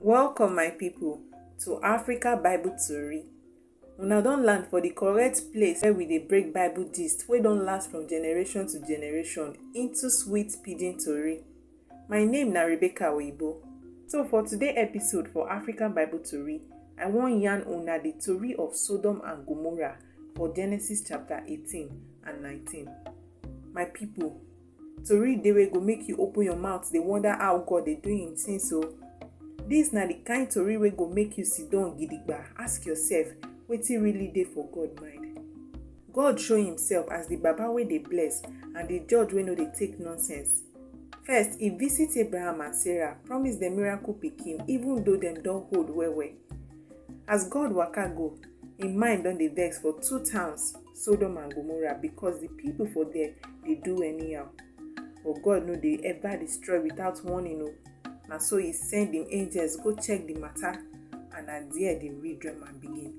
Welcome, my people, to Africa Bible Tori. Una don land for the correct place where we dey break Bible gist wey don last from generation to generation into sweet pidgin tori. My name na Rebecca Oyibo. So for today episode for African Bible Tori, I wan yarn una the tori of Sodom and Gomorrah for Genesis chapter 18 and 19. My people, Tori dey wey go make you open your mouth dey wonder how God dey do im things o. Dis na the kind tori wey go make you siddon gidigba ask yourself wetin really dey for God mind. God show himself as the Baba wey dey bless and the judge wey no dey take nonsense. First, e visit Abraham and Sarah, promise dem miracle pikin even though dem don old well well. As God waka go, im mind don dey vex for two towns Sodom and Gomorrah because the people for there dey do anyhow. But God no dey ever destroy without warning o. Na so he send him angels go check the matter and na there the real drama begin.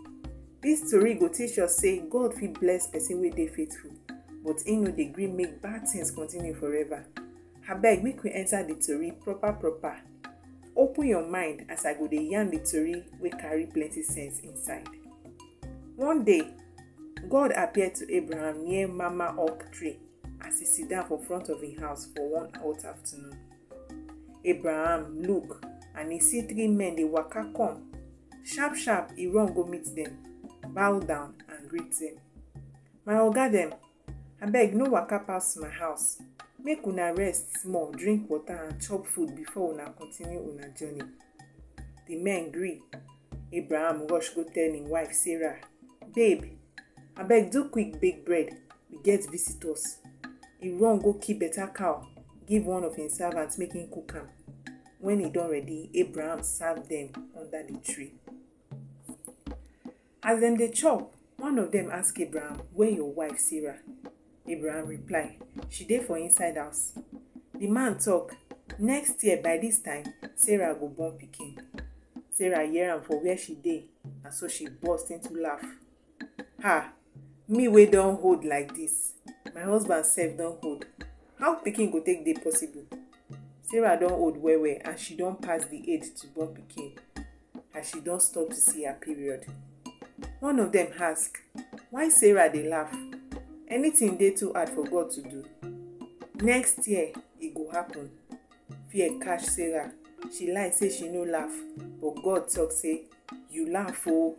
This tori go teach us say God fit bless person wey dey faithful but he no dey gree make bad things continue forever. Abeg make we enter the tori proper proper. Open your mind as I go dey yarn the tori wey carry plenty sense inside. One day, God appear to Abraham near Mamre oak tree as e sit down for front of im house for one hot afternoon. Abraham look and e see three men dey waka come. Sharp sharp e run go meet dem, bow down and greet dem. My oga dem, Abeg no waka pass my house. Make una rest small, drink water and chop food before una continue una journey. The men gree. Abraham rush go tell him wife Sarah, Babe, abeg do quick bake bread, we get visitors. He run go kill better cow, give one of him servants make him cook am. When he don ready, Abraham serve them under the tree. As dem dey chop, one of dem ask Abraham, Where your wife Sarah? Abraham reply, She dey for inside house. The man talk, Next year by this time, Sarah go born pikin. Sarah hear am for where she dey, and so she burst into laugh. Ha! Me wey don hold like this, my husband sef don hold. How pikin go take dey possible? Sarah don old well well and she don pass the age to born pikin. as she don stop to see her period. One of dem ask, Why Sarah dey laugh? Anything dey too hard for God to do? Next year, e go happen. Fear catch Sarah. She lie say she no laugh, but God talk say, You laugh oo.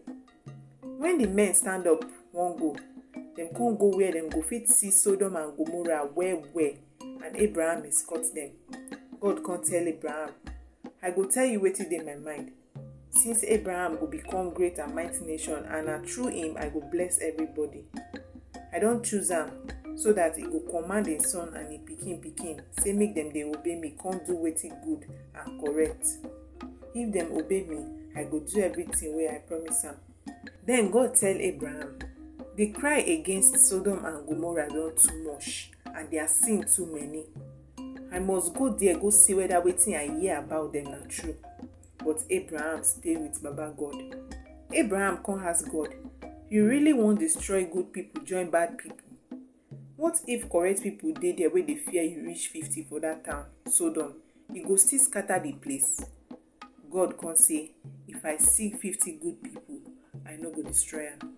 When the men stand up wan go, dem come go where dem go fit see Sodom and Gomorrah well well. And Abraham escort them. God come tell Abraham, I go tell you wetin dey my mind. Since Abraham go become great and mighty nation, and na through him I go bless everybody. I don choose am so that he go command him son and him pikin pikin say make dem dey obey me come do wetin good and correct. If dem obey me, I go do everything wey I promise am. Then God tell Abraham, The cry against Sodom and Gomorrah don too much. and their sin too many. I must go there go see whether wetin I hear about them na true. But Abraham stay with Baba God. Abraham come ask God, You really wan destroy good people join bad people? What if correct people dey there wey dey fear you reach fifty for that town, Sodom? You go still scatter the place. God come say, If I see fifty good people, I no go destroy am.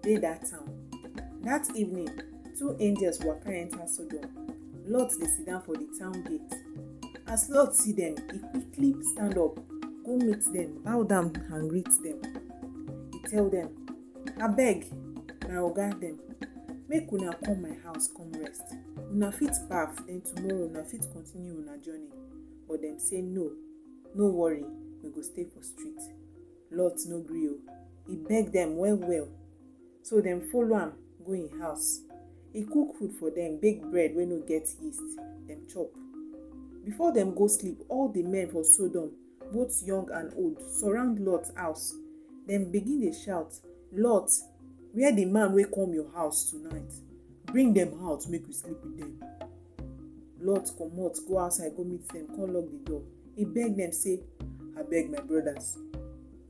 dey dat town. Dat evening, two angels waka enter Sodom. Lot dey sit down for di town gate. As Lot see dem, e quickly stand up, go meet dem, bow down and greet dem. E tell dem, Abeg, my oga dem, make una come my house come rest. Una fit baff, den tomorrow una fit continue una journey. But dem say, No, no worry, we go stay for street. Lot no gree o. E beg dem well well. So dem follow am go im house. E cook food for dem, bake bread wey no get yeast, dem chop. Before dem go sleep, all di men for Sodom, both young and old, surround Lot house. Dem begin dey shout, Lot, where di man wey come your house tonight? Bring dem out make we sleep with dem. Lot comot go outside go meet dem come lock the door. He beg dem say, Abeg my brothers,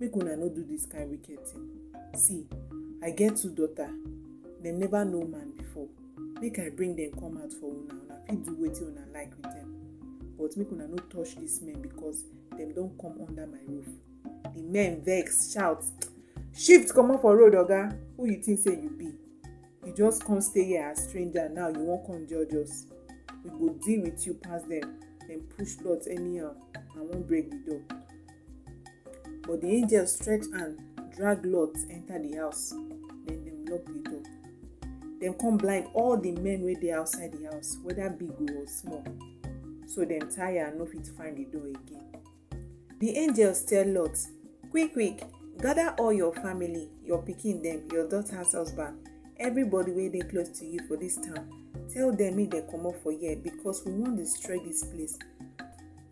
make una no do dis kain wicked thing. See, I get two daughter, dem never know man before. Make I bring dem come out for una, una fit do wetin una like with dem. But make una no touch dis men because dem don come under my roof. The men vex, shout, Shift comot for road oga, who you think say you be? you just come stay here as stranger now you wan come judge us we go deal with you pass dem dem push lot anyhow and wan break the door but the angel stretch hand drag lot enter the house then dem lock the door dem come blind all the men wey dey outside the house whether big or small so dem tire and no fit find the door again Di angels tell Lot, Quick quick, gather all your family, your pikin dem, your daughter's husband, everybody wey dey close to you for dis town, tell dem make dem comot for here because we wan destroy dis place.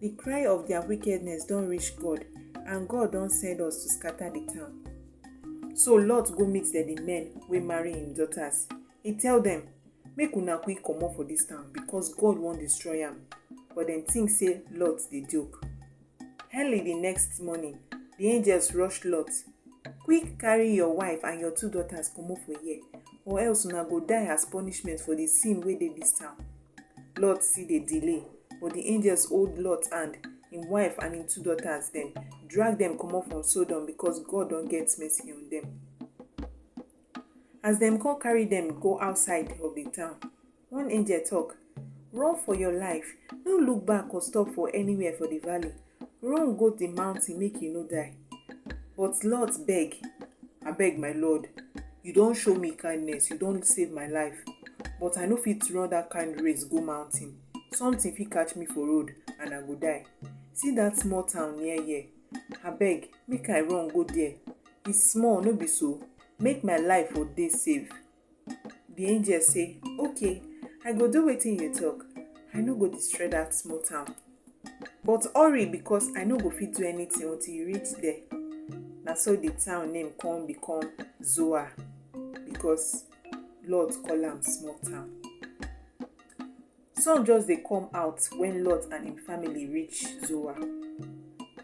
Di cry of their wickedness don reach God and God don send us to scatter di town. So Lot go meet dem di men wey marry im daughters. E tell dem, Make una quick comot for dis town because God wan destroy am. But dem think say Lot dey joke. Early the next morning, the angels rush Lot. Quick carry your wife and your two daughters comot for here or else una go die as punishment for the sin wey dey dis town. Lot still dey delay but the angels hold Lot hand, im wife and im two daughters dem, drag dem comot from Sodom because God don get mercy on dem. As dem come carry dem go outside of the town, one angel talk, Run for your life, no look back or stop for anywhere for the valley. Run go the mountain, make you no die. But Lot beg, I beg my Lord, you don show me kindness, you don save my life, but I no fit run that kind race go mountain. Something fit catch me for road and I go die. See that small town near here, I beg, make I run go there. e small no be so make my life for dey safe the angel say okay i go do wetin you talk i no go destroy that small town but hurry because i no go fit do anything until you reach there na so the town name come become zoar because lord call am small town Sun just dey come out wen Lot and im family reach Zoar.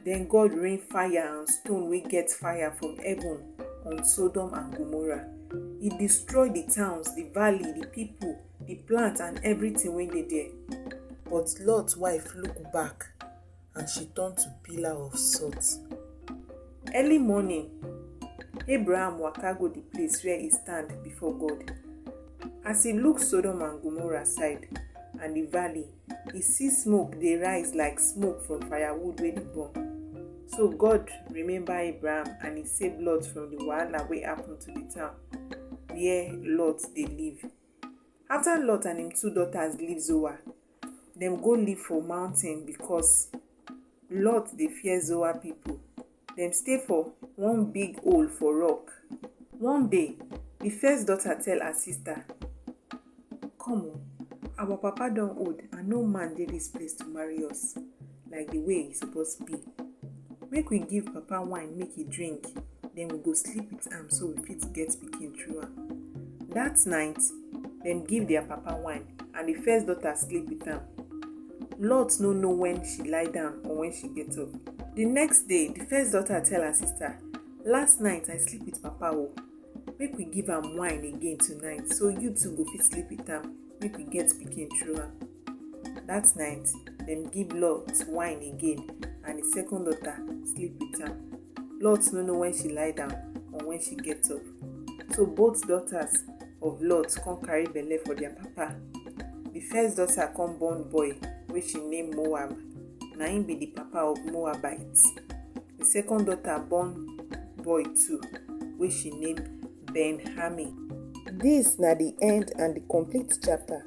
Den God rain fire and stone wey get fire from heaven on Sodom and Gomorrah. E destroy di towns, di valley, di pipo, di plant and evritin wey dey there. But Lot wife look back. and she turn to pillar of salt. Early morning, Abraham waka go the place where he stand before God. As he look Sodom and Gomorrah side and the valley, he see smoke dey rise like smoke from firewood wey dey burn. So God remember Abraham and he save Lot from the wahala wey happen to the town where Lot dey live. After Lot and him two daughters leave Zoar, Dem go live for mountain because Lot dey fear Zoar people. Dem stay for one big hole for rock. One day, the first daughter tell her sister, Come o, our papa don old and no man dey this place to marry us. like the way e suppose be make we give papa wine make e drink then we go sleep with am so we fit get pikin through am that night dem give their papa wine and the first daughter sleep with am lot no know when she lie down or when she get up the next day the first daughter tell her sister last night i sleep with papa o make we give am wine again tonight so you too go fit sleep with am make we get pikin through am That night, dem give Lot wine again, and his second daughter sleep with am. Lot no know when she lie down or when she get up. So both daughters of Lot come carry belle for their papa. The first daughter come born boy wey she name Moab. Na him be the papa of Moabites. The second daughter born boy too wey she name Ben-Hami. Dis na the end and the complete chapter.